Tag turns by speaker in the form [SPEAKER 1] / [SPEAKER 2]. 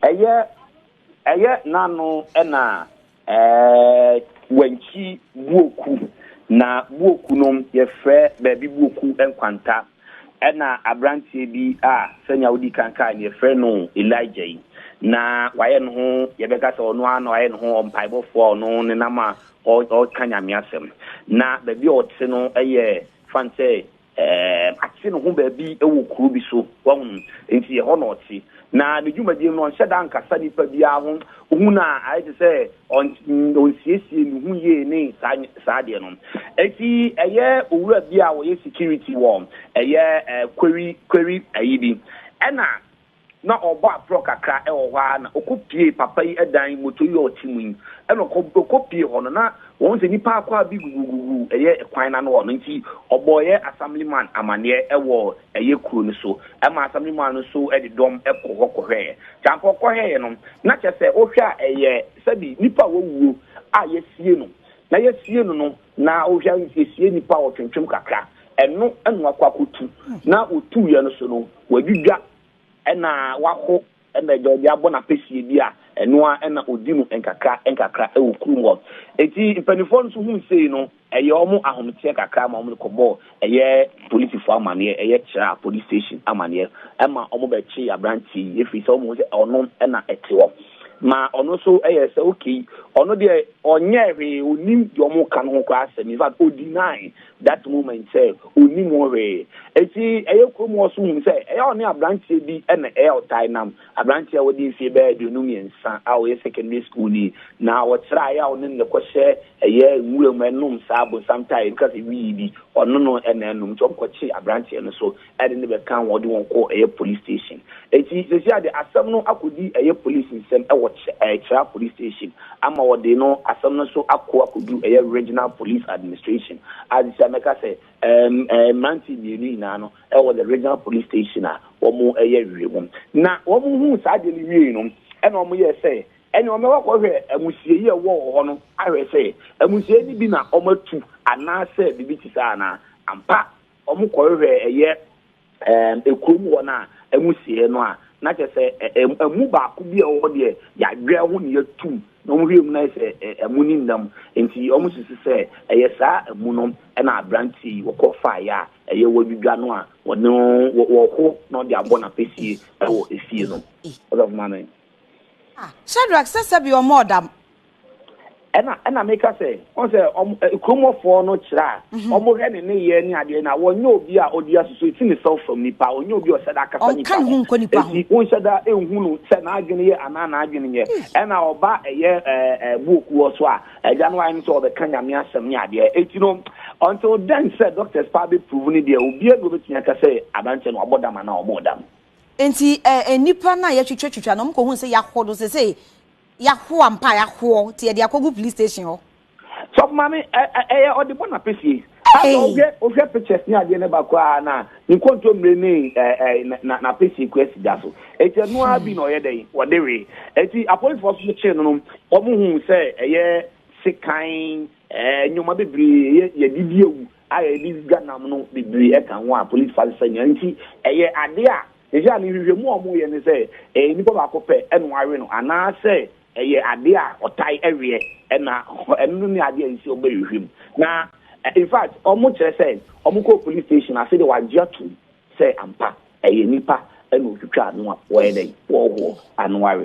[SPEAKER 1] ɛyɛ ɛyɛ n'ano na ɛɛ wankyi buoku na buoku no yɛfrɛ baabi buoku nkwanta Ɛnna aberanteɛ bi a sɛnea wodii kan kae no, yɛfrɛ no Elijah yi, na wayɛ ne ho, yɛbɛka sɛ ɔno ara na wayɛ ne ho ɔmpaebɔfoɔ a ɔno nenam a ɔka Nyame asɛm. Na baabi a ɔte no yɛ fan sɛ ɛɛm, ate ne ho baabi wɔ kuro bi so, wahunu, nti ɛhɔ na ɔte. Na ne dwumadie no, ɔnhyɛ da nkasa nipa biara ho, wohu no a ayɛ te sɛ ɔnsiesie ne ho yie ne saa adeɛ no. Enti ɛyɛ owura bi a ɔyɛ security wɔ ɛyɛ Kweri Kweri ayi bi, ɛna na ɔrebɔ aporɔ kakra wɔ hɔ ara na ɔkɔ pie papa yi dan moto yi a ɔte mu yi, ɛna ɔkɔ pie hɔ no na wɔhu sɛ nipa akwaa bi gugugugu ɛyɛ kwan no ano hɔ no, nti ɔbɔɔ ɛyɛ Assemblyman amaneɛ wɔ ɛyɛ kuro no so ma asɛm no mu a no nso de dɔm kɔ hɔ kɔhwɛeɛ. Nti anka ɔkɔhwɛeɛ no, na kyerɛ sɛ wohwɛ a ɛyɛ sɛbi nipa a wawuo a yɛasie no, na yɛasie no no, na wohwɛ a yɛsie nipa a wɔtwentwem kakra, ɛno na wakɔ akɔtu, na wɔtuuiɛ no so no, wadwidwa na waho Ɛnna agya obi abɔ no apɛsie bi a, ɛno ara na ɔdi no nkakra nkakra wɔ kurom hɔ. Enti mpanimfoɔ no nso hui sei no, ɛyɛɛ wɔn ahometeɛ kakra ma wɔde kɔbɔɔ ɛyɛ polisifoɔ amaneɛ, ɛyɛ Kyerah Police Station amaneɛ, ɛma wɔbɛkyee aberanteɛ yi, ɛfiri sɛ wɔhuu sɛ ɔno na ɛte hɔ. Ma ɔno nso yɛɛ sɛ okay, ɔno deɛ ɔnyɛɛ hwee, ɔnnim deɛ wɔreka no ho koraa asɛm, in fact, ɔdinae. that moment sɛ ɔnnim ho hwee. Enti ɛyɛ kurom hɔ so hunu sɛ ɛyɛ a ɔne aberanteɛ bi na ɛyɛ a ɔtae nam, aberanteɛ a wadi mfeɛ bɛyɛ aduonu mmiɛnsa a ɔyɛ secondary schoolni, na ɔkyerɛ a ɛyɛ a ɔne no na ɛkɔhyɛ ɛyɛ nwura mu nom saa abosam tae bi ka sɛ wii bi, ɔno no na ɛnom. Nti wɔkɔkye aberanteɛ no so ɛde ne bɛka ho ɔde wɔn kɔ ɛyɛ police station eti sɛsi ade asɛm no akɔdi ɛyɛ police nsɛm ɛwɔ ɛyɛ kyera police station ama ɔde no asɛm no nso akɔ akɔdu ɛyɛ regional police administration a sɛsi a mɛka sɛ ɛɛm ɛɛ mmeranteɛ mmienu nyinaa no ɛwɔ the regional police station a wɔn ɛyɛ wie mu na wɔn hu saa adeɛ no wie no ɛna wɔn yɛ sɛ ɛne wɔn ɛwɔ kɔhwɛ amusie yi ɛwɔ wɔ hɔ no ahwɛ sɛ amusie no bi na wɔn atu anaasɛ biribi ti saa anaa ampa Ɔmo kɔ hwehwɛ ɛyɛ ɛɛm ekuro mu hɔ no a ɛmu sieɛ no a na kyɛ sɛ ɛɛm ɛmu baako bi a ɛwɔ hɔ deɛ yadwɛɛ ho na yatum na ɔmo hwɛɛ mu na ayɛ sɛ ɛmu ne nam nti ɔmo susu sɛ ɛyɛ saa ɛmu no ɛna abranteɛ yi ɔkɔ faeɛ a ɛyɛ wadwidwa no a ɔne wɔ wɔho na ɔde abɔ napesie ɛwɔ efie no. Ɔsɔfo mame. Ah
[SPEAKER 2] Shadrack sɛ sɛbi ɔmɔɔ dam ɛna
[SPEAKER 1] ɛna meka sɛ wɔn sɛ wɔn kuromɔfoɔ no kyerɛ a wɔn hwɛ ne ne yɛ ne adeɛ na wɔnyɛ obi a ɔdi asoso eti ne self from nipa ɔnyɛ obi a ɔhyɛ da akasa nipa ho eti
[SPEAKER 2] wɔnhyɛ da ehu
[SPEAKER 1] no sɛ n'adwene yɛ anaa n'adwene yɛ ɛna ɔba ɛyɛ ɛɛ ɛɛ buoku wɔ so a ɛgya no ayɛ no sɛ ɔbɛka nyame asɛm ne adeɛ eti no until then sɛ doctors paa bɛ prove ne deɛ obiara bi obetumi aka sɛ aberanteɛ no ɔbɔ dam anaa ɔmo dam. nti ɛɛ
[SPEAKER 2] nipa no a yɛtwitwa twitwa no ɔmo kɔ hu sɛ yɛahɔ no sese. Yɛaho ampa a yɛahoɔ nti yɛde akɔgu police station hɔ. Sɔfo maame ɛ
[SPEAKER 1] ɛ ɛyɛ ɔde bɔ n'apesie. Asa Ei! wohwɛ wohwɛ pictures ne adeɛ no ba koraa na ne kontommire ne ɛ ɛ na na n'apesie kura si da so. Eti ɛno ara bi na ɔyɛ dɛn ɔde wee. Eti apolisifoɔ nso kyee no no wɔn hu sɛ ɛyɛ sekan ɛɛ nneɛma bebree ɛyɛ yɛde di awu a yɛde dwa nam no bebree ɛka ho a polisifoɔ asesa nyinaa nti ɛyɛ adeɛ a Seesei no, nhwehwɛmu a wɔyɛ ne sɛ, ɛyɛ nipa baako pɛ na wɔawe no anaasɛ ɛyɛ adeɛ a wɔtae weɛ na ɛno ne adeɛ a ɛsɛ sɛ wɔbɛhwehwɛ mu. Na infact, wɔkyerɛ sɛ wɔkɔɔ police station ase de wɔagye atom sɛ ampa ɛyɛ nipa na ɔtwitwaa no a wɔyɛ dɛn, wɔhoɔ ano awe.